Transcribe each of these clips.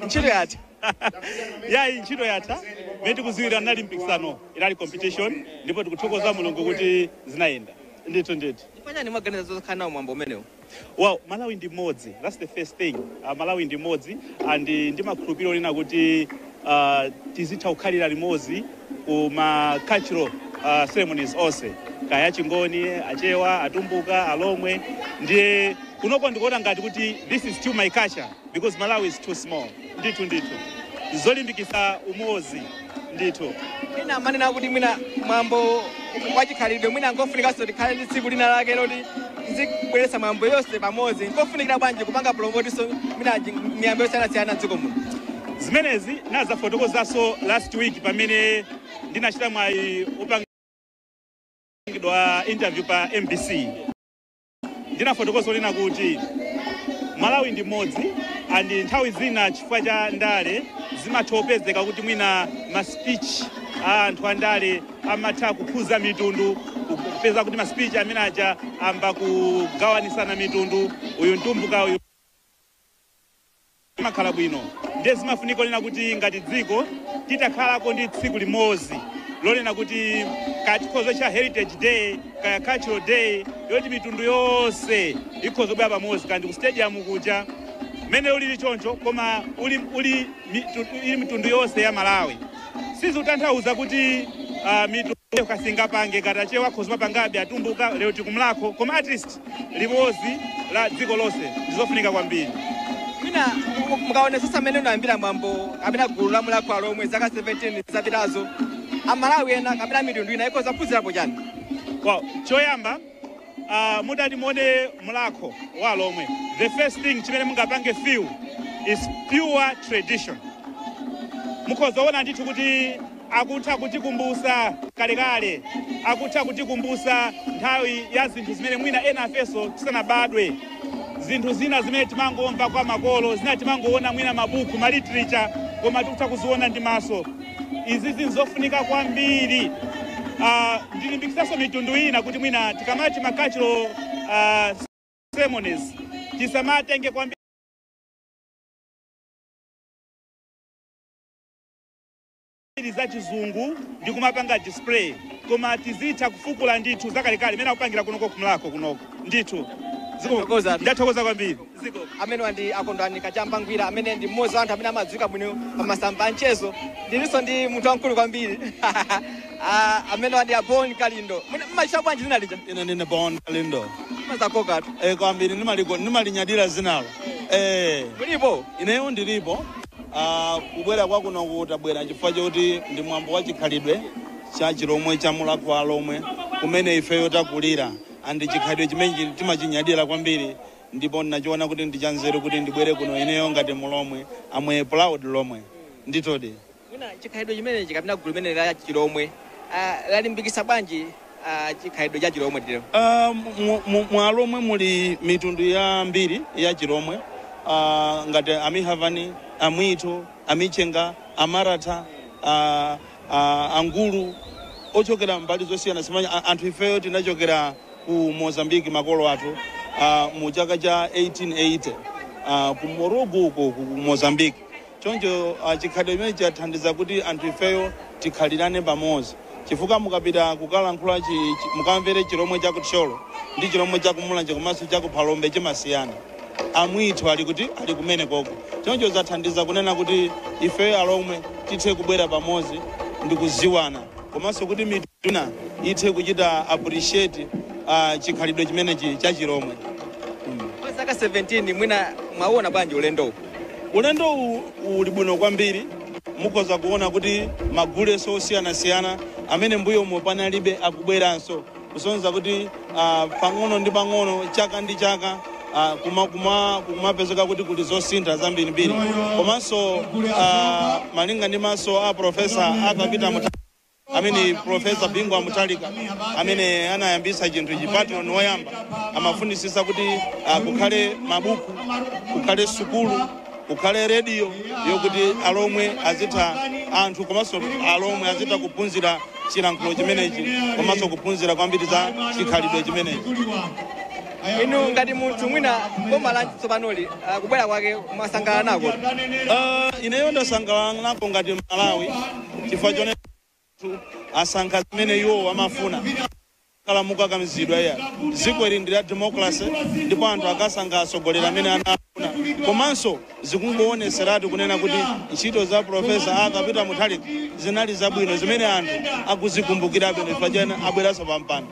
ntchito yatha yayi ntchito yatha mene tikuziwira nali mpikisano inali competition ndipo tikuthokoza mulungu kuti zinayenda ndithu ndithu pachani mwaganiza zokhala nawo mwambo umenewu well malawi ndi mmodzi that's the first thing uh, malawi ndi mmodzi and uh, ndimakhulupirira wonena kuti uh, tizitha kukhalira limodzi ku ma cultural uh, ceremonies onse kaya achingoni achewa atumbuka alomwe ndiye kunoko ndikuona ngati kuti this is still my culture Because Malawi is too small ndithu ndithu zolimbikitsa umodzi ndithu. Ena amanena kuti mwina mwambo wachikhalidwe mwina nkofunikanso tikhale ndi tsiku lina lake loti tizibweretsa mwambo yonse pamodzi nkofunikira bwanji kupanga promotiso mwina miyambo yosiyanasiyana dziko muno zimenezi nadzafotokozanso last week pamene ndinachita mwayi opangidwa interview pa mbc ndinafotokoza onena kuti malawi ndi mmodzi and nthawi zina chifukwa cha ndale zimatha kupezeka kuti mwina ma speech a anthu a ndale amatha kukhudza mitundu kupeza kuti ma speech amene aja ayamba kugawanisana mitundu uyu mtumbuka uyu zimakhala bwino ndiye zimafunika onena kuti ngati dziko titakhalako ndi tsiku limodzi lonena kuti kaya tikhoza kutcha heritage day kaya cultural day yoti mitundu yonse ikhoza kubwera pamodzi ngati ku stadium kuja mmene ulili choncho koma uli, uli mitu- ili mitundu yonse ya malawi sizikutanthauza kuti uh, mitundu kuti singapange kaya Achewa akhoza kumapangabe atumbuka lero tili ku Mlakho koma at least limodzi la dziko lonse ndi zofunika kwambiri. Mwina mukaonetsetsa mmene unayambira mwambo kapena gulu la Mulakho wa Alomwe zaka 17 zapitazo, Amalawi ena kapena mitundu ina ikhoza kuphunzirapo chani? Well. Choyamba uh, mutati muone Mlakho wa Alomwe, the first thing chimene mungapange feel is pure tradition. Mukhoza kuona ndithu kuti akutha kutikumbusa kalekale, akutha kutikumbusa nthawi ya zinthu zimene mwina ena ifenso tisanabadwe, zinthu zina zimene timangomva kwa makolo, zina timangoona mwina mabuku, ma literature, koma tikutha kuziona ndi maso. Izizi nzofunika kwambiri. Uh, ndilimbikitsanso mitundu ina kuti mwina tikamati ma cultural uh, ceremonies tisamatenge kwambiri zambiri za chizungu ndi kumapanga display koma tizitha kufukula ndithu zakalekale imene akupangira kunoko kumlako kunoko ndithu Ziko- Thokoza. ndathokoza kwambiri ameneyo ndi a Kondwani Kachamba Ngwira amene ndi mmodzi wa anthu amene amadziwika bwino pa masamba a mchezo ndilinso ndi munthu wamkulu kwambiri Ah, ameneyu ndi a Bon Kalindo Mwina mmaitcha bwanji dzina lija ine ndine Bon Kalindo mazakokatu e, kwambiri nimaligo- nimalinyadira dzinalo e, mulipo ineyo ndilipo Uh, kubwera kwa kunoku tabwera chifukwa choti ndi mwambo wa chikhalidwe cha chilomwe cha Mulhako wa Alomwe kumene ifeyo takulira andi chikhalidwe chimene timachinyadira kwambiri ndipo ndinachiona kuti ndi chanzeru kuti ndibwere kuno ineyo ngati mulomwe I'm a proud lomwe nditodi mwina chikhalidwe chimenechi kapena gulu limene la chilomwe uh, lalimbikisa bwanji ah, chikhalidwe cha chilomwe titero Ah, mu- mu- mu alomwe muli mitundu yambiri ya chilomwe Ah, ngati amihavani amwitho amichenga amaratha ah, ah, angulu ochokera mbali zosiyana siyana a- anthu ifeyo tinachokera ku mozambiki makolo athu ah, mu chaka cha 1880 ah, ku morugu uko ku mozambiki Choncho chikhalidwe chimenechi chathandiza kuti anthu ifeyo tikhalirane pamodzi chifukwa mukapita kukalankhula chi, chi, mukamvere chilomwe cha ku Thyolo ndi chilomwe cha ku Mulanje komanso cha ku Phalombe chimasiyana. Amwitho ali kuti? Ali kumenekoko. Choncho zathandiza kunena kuti ifeyo alomwe tithe kubwera pamodzi ndi kudziwana komanso kuti mitundu ina ithe kuchita appreciate ah, chikhalidwe chimenechi cha chilomwe. Mm. Kwa zaka 17 mwina mwauona bwanji ulendowu? Ulendo uwu uli bwino kwambiri. Mukhoza kuona kuti magulenso osiyanasiyana amene mbuyomo panalibe akubweranso kusonyeza kuti ah, pang'ono ndi pang'ono chaka ndi chaka ah, kuma- kuma- kukumapezeka kuti kuli zosintha zambirimbiri komanso ah, malinga ndi masomphenya a profesa Arthur Peter Mu amene profesa bingu wa mutharika amene anayambisa chinthu ichi patron woyamba amafunisisa kuti uh, kukhale mabuku kukhale sukulu kukhale rediyo yokuti alomwe azitha anthu komanso alomwe azitha kuphunzira chilankhulo chimenechi komanso kuphunzira kwambiri za chikhalidwe chimenechi inu ngati munthu mwina boma la tsopanoli ah, kubwera kwake mwasangalala nako Uh, ineyo ndasangalala nako ngati mmalawi chifukwa choti anthu asankha zimene iwowo amafuna sanachite kukakamizidwa ayi dziko ili ndi la democracy ndipo anthu akasankha atsogoleri amene anafuna komanso zikungowoneseratu kunena kuti ntchito za profesa arthur peter mutharika zinali zabwino zimene anthu akuzikumbukirabe chifukwa chake abweranso pampando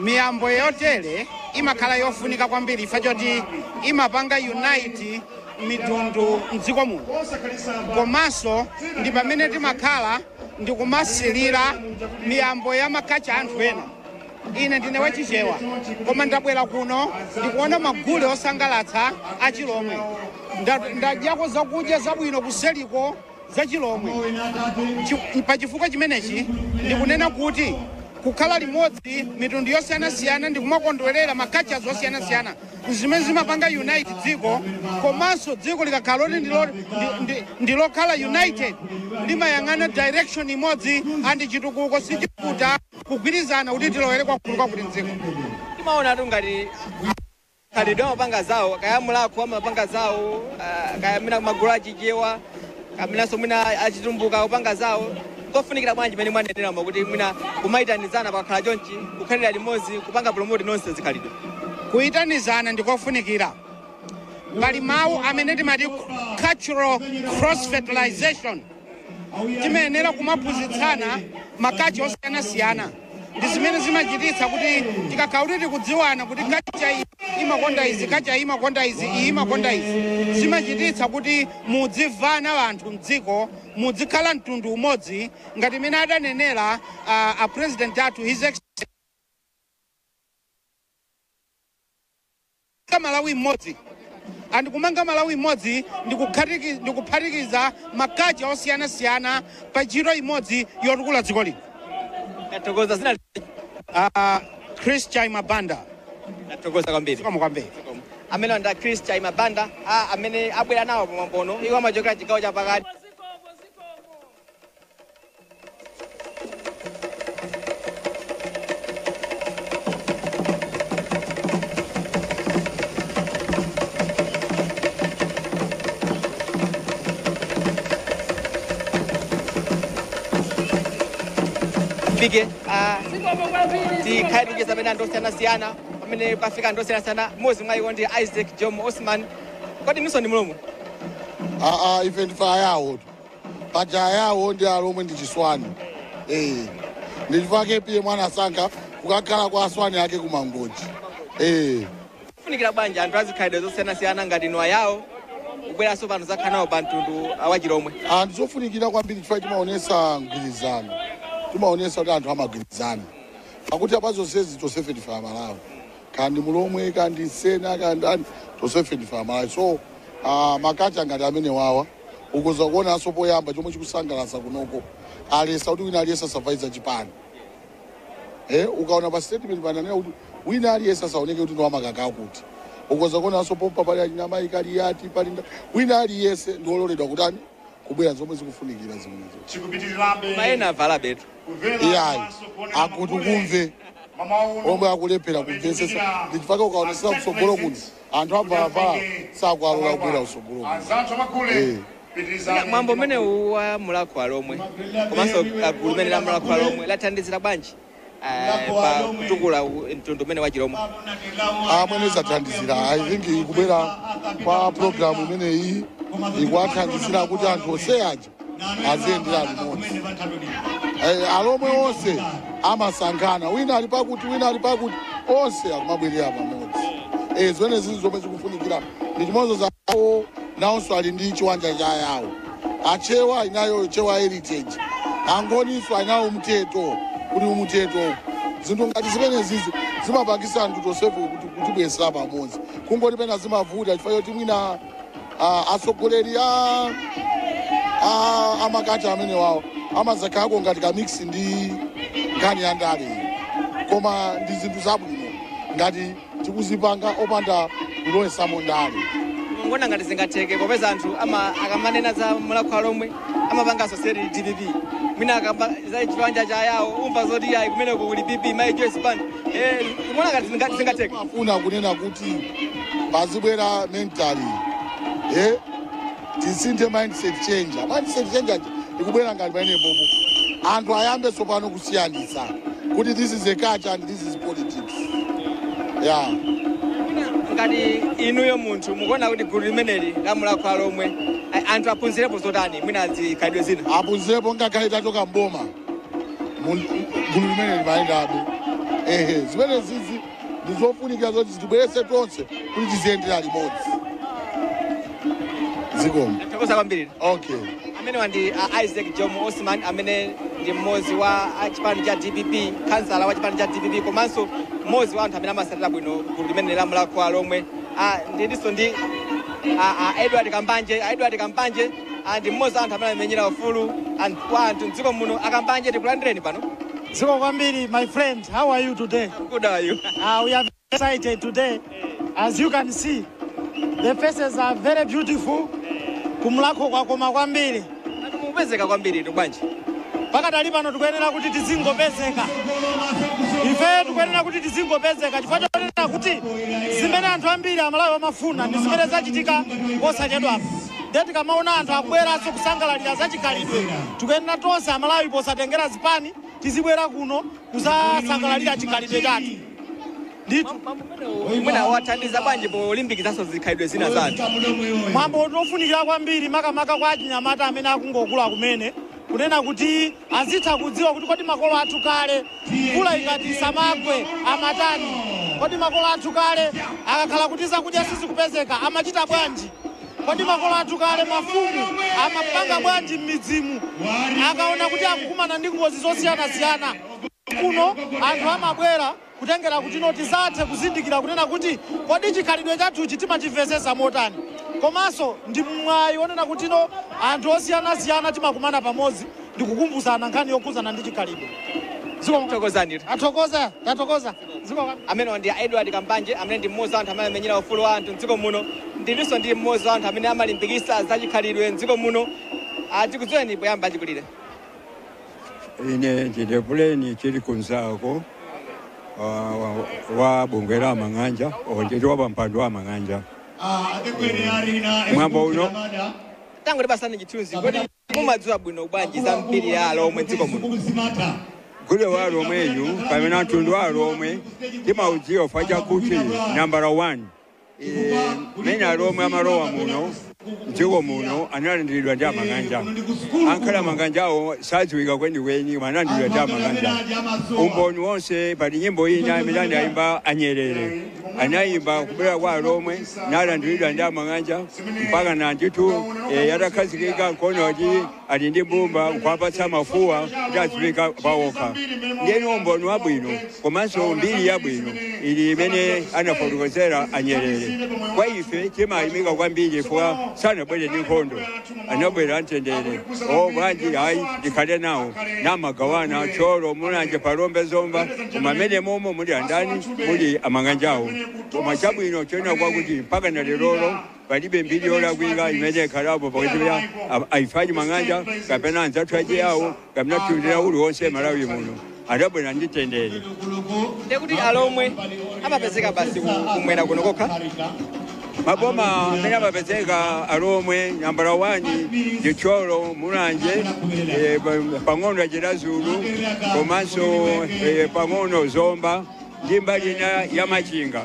Miyambo yotere imakhala yofunika kwambiri chifukwa choti imapanga unite mitundu m'dziko muno komanso ndi pamene timakhala ndikumasilira miyambo ya makacha anthu ena. Ine ndine wa Chichewa koma ndabwera kuno ndikuona magule osangalatsa a Chilomwe. Nda- Ndadyako zakudya zabwino kuseliko. za Chilomwe. Chi, pa chifukwa chimenechi ndikunena kuti kukhala limodzi mitundu yosiyanasiyana ndi kumakondwerera ma cultures osiyanasiyana zimene zimapanga unite dziko komanso dziko likakhala loti ndilo- ndi- ndi- ndilokhala united limayang'ana direction imodzi andi chitukuko sichivuta kugwirizana kuti tilowere kwakuti kwakuti mdziko timaona atu ngati Khalidwe amapanga zawo, kaya Mulhako amapanga zawo, ah, kaya mwina magulu achichewa kapenanso mwina achitumbuka akupanga zawo. Kofunikira bwanji pamene mwaneneramo kuti mwina kumayitanizana pakakhala chonchi, kukhalira limodzi, kupanga promote nonse zikhalidwe. Kuyitanizana ndikofunikira. Pali mawu amene timati cultural cross fertilization. Timayenera kumaphunzitsana makacha osiyanasiyana. ndi zimene zimachititsa kuti tikakhala kuti tikudziwana kuti kacha iyi imakonda izi kacha iyi imakonda izi iyi imakonda izi zimachititsa kuti mudzimvana anthu mdziko mudzikhala mtundu umodzi ngati mmene adanenera ah, a president athu his Excellency Kumanga Malawi Mmodzi. And Kumanga Malawi Mmodzi ndi kukhatiki, ndi kuphatikiza makacha osiyanasiyana pa ntchito imodzi yotukula dziko lino. Tathokoza Ah, Chris Chaima Banda. ndathokoza kwambiri. Zikomo kwambiri. Ameneyo ndi Chris Chaima Banda a amene abwera nawo pamwambo uno. Iwo amachokera chigawo cha pakati. tifike ah, tikhale tikucheza pamene anthu osiyanasiyana pamene pafika anthu osiyanasiyana mmodzi mwa iwo ndi isaac jomo osman kodi inunso ndi mlomwe aa ife ndife ayawo paja ayawo ndi alomwe ndi chisuweni eh ndi chifukwa KPM anasankha kukakhala kwa asuweni ake kumangochi eh kufunikira bwanji anthu azikhalidwe zosiyanasiyana ngati inu ayawo kubweranso pano zakhala nawo pa mtundu wachilomwe ndi zofunikira kwambiri chifukwa timaonesa mgwirizano timaonesa kuti anthu amagwirizana pakuti apa zonsezi tonsefe ndife amalawi kaya ndi mulomwe kaya ndi sena kaya ndi ani tonsefe ndife amalawi so ah, makacha ngati amenewawa ukoza kuonaso poyamba chomwe chikusangalatsa kunoko aletsa kuti wina aliyese asavale za chipani eh, ukaona pa statement pananena kuti wina aliyese asaoneke kuti ndiwamakaka akuti ukoza kuonaso pompa pali amayi Kaliati pali nda- wina aliyese ndiololedwa kutani kubwera zomwe zikufunikira zimenezo chikupitirirabe mwina avala betu kumvera iyayi komanso kuonera akuti maule. kumve Mama uno, omwe akulephera kumvetsetsa ndichifukwa ukaonetsetsa kutsogolo kuno Anthu avalawa sakuwalola kubwera kutsogolo kuno. Mwambo umenewu wa Mulakho Alomwe komanso gulu limeneli la Mulakho Alomwe lathandizira bwanji pa kutukula mtundu umenewu wa Chilomwe? Mmene zathandizira I think kubwera kwa program imeneyi ikuwathandizira kuti anthu onse aja aziyendera limodzi Eh, alomwe onse amasankhana wina ali pakuti wina ali pakuti onse akumabwerera pamodzi Eh, zimene zili zomwe zikufunikira ndi chimodzi anzawo nawonso ali ndi chiwanja cha ayawo achewa inawo chewa heritage angoninso inawo umthetho kuli umthetho zinthu ngati zimenezizi zimapangisa anthu tonsefe kuti kutibwesera pamodzi kungoti pena zimavuta chifukwa choti mwina Ah, atsogoleri a a- amakati amene wawo amazakhalako ngati kamix ndi nkhani ya ndale koma ndi zinthu zabwino ngati tikuzipanga opanda kulowetsamo ndale kumaona ngati zingatheke popeza anthu ama akamanena za mulakho alomwe amapanga associate ndi dpp mwina ukakamba za chiwanja cha ayawo umva zoti yayi kumeneko kuli pp mayi joyce banda eh kumaona ngati zinga- zingatheke pofuna kunena kuti pazibwera mentally eh tisinthe mindset change mindset change aja ikubwera ngati pamenepopo anthu ayambe tsopano kusiyanitsa kuti this is a culture and this is politics ya ngati inuyo munthu mukuona kuti gulu limeneli la mulakho alomwe a- anthu aphunzirepo zotani mwina zikhalidwe zina aphunzirepo ngakhale tachoka mboma Mun- gulu limeneli limayendabe ehe zimenezizi ndizofunikira zoti zitibwerese tonse kuti tiziyendera limodzi zikomo tithokoza kwambiri okay amenewa ndi uh, isaac jomo osman amene ndi mmodzi wa a chipani cha dpp kansala wa chipani cha dpp komanso mmodzi wa anthu amene amasatira bwino gulu limeneli la mulakho alomwe Ah, ndilinso ndi ah, ah, edward kambanje Ah, edward kambanje ah, ndi mmodzi wa anthu amene amamenyera ufulu and- kwa anthu mdziko muno a kambanje tikulandireni pano zikomo kwambiri my friend how are you today good how are you uh, we are excited today. As you can see, the faces are very beautiful. Kumulhakho kwakoma kwambiri. Ngati mukupezeka kwambiritu bwanji? Pakadali pano tikuyenera kuti tizingopezeka. Ife tikuyenera kuti tizingopezeka chifukwa chonena kuti zimene anthu ambiri amalawi amafuna ndi zimene zachitika posachedwapo. Ndiye tikamaona anthu akubweranso kusangalalira zachikhalidwe tikuyenera tonse amalawi posatengera zipani tizibwera kuno kuzasangalalira chikhalidwe chathu. ndithu Mwambo umenewo mwina wathandiza bwanji polimbikitsanso zikhalidwe zina za anthu? mwambo uno ofunikira kwambiri makamaka kwa achinyamata amene akungokula kumene kunena kuti azitha kudziwa kuti kodi makolo athu kale mvula ikatisamagwe amatani kodi makolo athu kale akakhala kuti zakudya sizikupezeka amachita bwanji kodi makolo athu kale mafumu amapanga bwanji m'midzimu akaona kuti akukumana ndi ngozi zosiyanasiyana kuno anthu amabwera kutengera kutino tizathe kuzindikira kunena kuti kodi chikhalidwe chathuchi timachimvetsetsa motani komanso ndi mwayi wonena kutino anthu osiyanasiyana timakumana pamodzi ndi kukumbutsana nkhani yokhudzana ndi chikhalidwe zikomo thokozani athokoza tathokoza zikomo amenewa ndi a edward kambanje amene ndi mmodzi wa anthu amene amamenyera ufulu wa anthu mdziko muno ndilinso ndi mmodzi wa anthu amene amalimbikitsa zachikhalidwe mdziko muno tikudziweni poyamba achikulire Ine ndine Buleni Chili Kunzako wa- wa- wa bungwe la Mang'anja onjeti wa pampando wa a Mang'anja. Mwambo uno tangotipatsani chithunzi kodi mumadziwa bwino bwanji za mbiri ya alomwe mdziko muno gule wa alomweyu pamene mtundu wa alomwe timaudziwa fachakuti nambala 1 mene alomwe amalowa muno mdziko muno analandiridwa ndi amang'anja angakhale amang'anjawo sadziwika kwenikweni analandiridwa ndi amang'anja umboni wonse pali nyimbo ina imene anayimba anyerere anayimba kubwera kwa alomwe nalandiridwa ndi amang'anja mpaka nanditu yatakhazikika mkono kuti ali ndi mbumba kuwapatsa mafuwa kuti azipeka pawokha ndiyeni umboni wabwino komanso mbiri yabwino ili imene anafotokozera anyerere kwa ife timayimika kwambiri chifukwa sanabwere ndi nkhondo anabwera amtendere o bwanji ayi tikhale nawo namagawana thyolo mulanje phalombe zomba koma amene momo muli andani muli amang'anjawo koma chabwino choona kwakuti mpaka na lerolo Palibe mbiri yolakwika imene ikhalapo pakati pa a- a ife Achimang'anja kapena anzathu Achiyawo kapena mtundu wina uliwonse Malawi muno adabwera ndi mtendere ndekuti Alomwe amapezeka basi ku- kumwera kuno kokha maboma amene amapezeka Alomwe nambala wani ndi Thyolo Mulanje eh, pa- pang'ono Chiradzulu komanso eh, pang'ono Zomba ndi mbali ina ya Machinga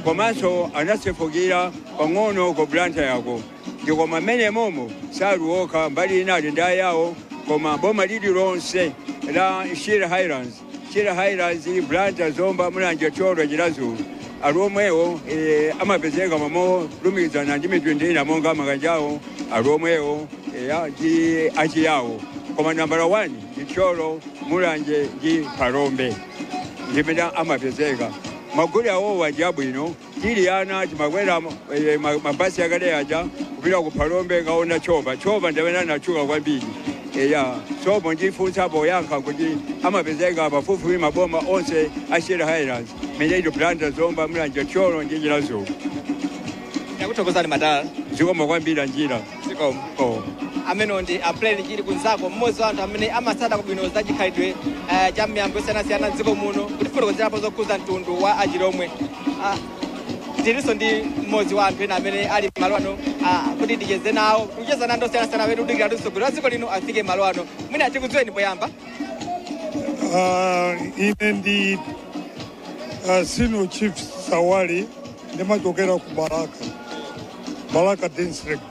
komanso anasefukira pang'ono ku Blantyreko ndi chifukwa mmene momo sali okha mbali ina kuli Ayawo koma boma lililonse la Shire Highlands Shire Highlands Blantyre Zomba Mulanje Thyolo Chiradzulu Alomwewo eh, amapezeka momwemo molumikizana ndi mitundu ina monga Amang'anjawo Alomwewo eh, a- ndi Achiyawo koma nambala 1 ndi Thyolo Mulanje ndi Phalombe ndimene amapezeka magule awo aja abwino tili ana timakwera eh, ma- mabasi akale aja kupita ku Phalombe kukaona tchopa tchopa ndi amene anatchuka kwambiri eya sopo ndi funso poyankha kuti amapezeka pafupifupi maboma onse a Shire Highlands meneyi Blantyre Zomba Mulanje Thyolo ndi Chiradzulu takuthokozani madala zikomo kwambiri njira amenewo ndi aprel chili kunzako mmodzi wa anthu amene amatsata bwino za chikhalidwe eh, cha miyambo yosiyanasiyana mdziko muno kutifotokozerapo zokhudza mtundu wa Achilomwe Ah, tilinso ndi mmodzi wa anthu ena amene ali malo ano ah, kuti ticheze nawo kucheza ndi anthu osiyanasiyana amene akudikira kuti mtsogoleri wa dziko lino afike malo ano mwina tikudziweni poyamba Ah, ine ndi Uh, senior chief Sawali ndimachokera ku Balaka, Balaka district.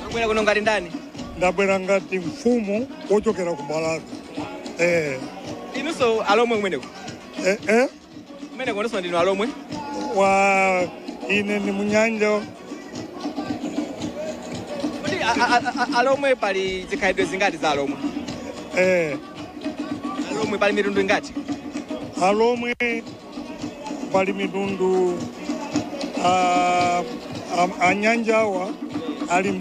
Mwabwera kuno ngati ndani? Ndabwera ngati mfumu wochokera ku Balaka. Eh. Inunso Alomwe kumeneko? Eh, eh? Kumeneko inunso ndinu Alomwe? Wa ine ni Munyanja. Kuti Alomwe pali zikhalidwe zingati za Alomwe? Eh. Alomwe pali mitundu ingati Alomwe pali mitundu ah, am- Anyanjawa ali